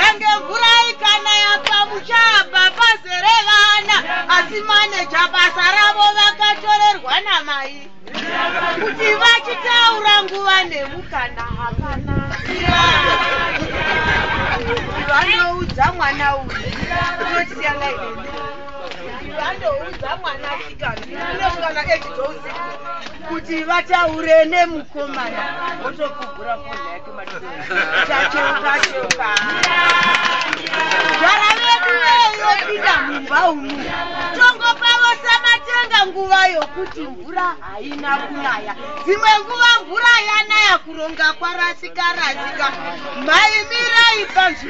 yange mvura ikanaya pamuchapa pazere vana asi maneja basa ravo vakatorerwa namai kuti vachitaura nguva nemukana hapana vanoudza mwana uyu unotisiyangai vandoudza mwana sikana unosvika echidousi kuti vataure nemukomana votokugura fonheka Tacheuka cheuka. Gara vedu veyopinda mumba umu. Tongopavo samatenga nguva yokuti mvura haina kunaya. Dzimwe nguva mvura yanaya kuronga kwarasika rasika. Mai mirai panzvimbo.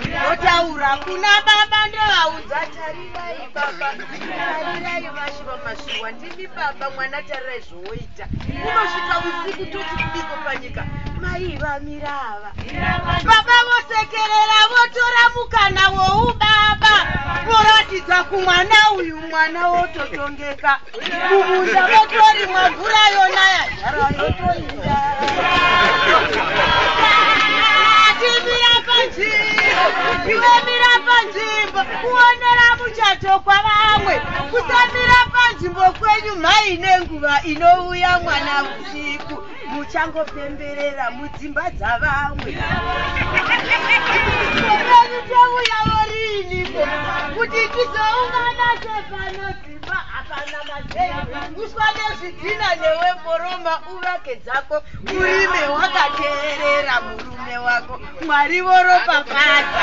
Ndotaura kuna baba ndovaudza tarirai baba tarirai vashe vamasuwa ndimi baba mwana tarirai zvowoita unosvika usiku toti kudiko panyika mai vamira ava baba vosekerera votora mukana woubaba voratidza kumwana uyu mwana wototongeka Mumunda motorimwa mvura yonaya. Timira panzvimbo, iwe mira panzvimbo, kuonera muchato kwavamwe, kusamira panzvimbo kwenyu mhai nenguva inouya mwana usiku muchangopemberera mudzimba dzavamwe uswa nezvidhina newe mboroma uvake dzako urime wakateerera murume wako mwari voropafadza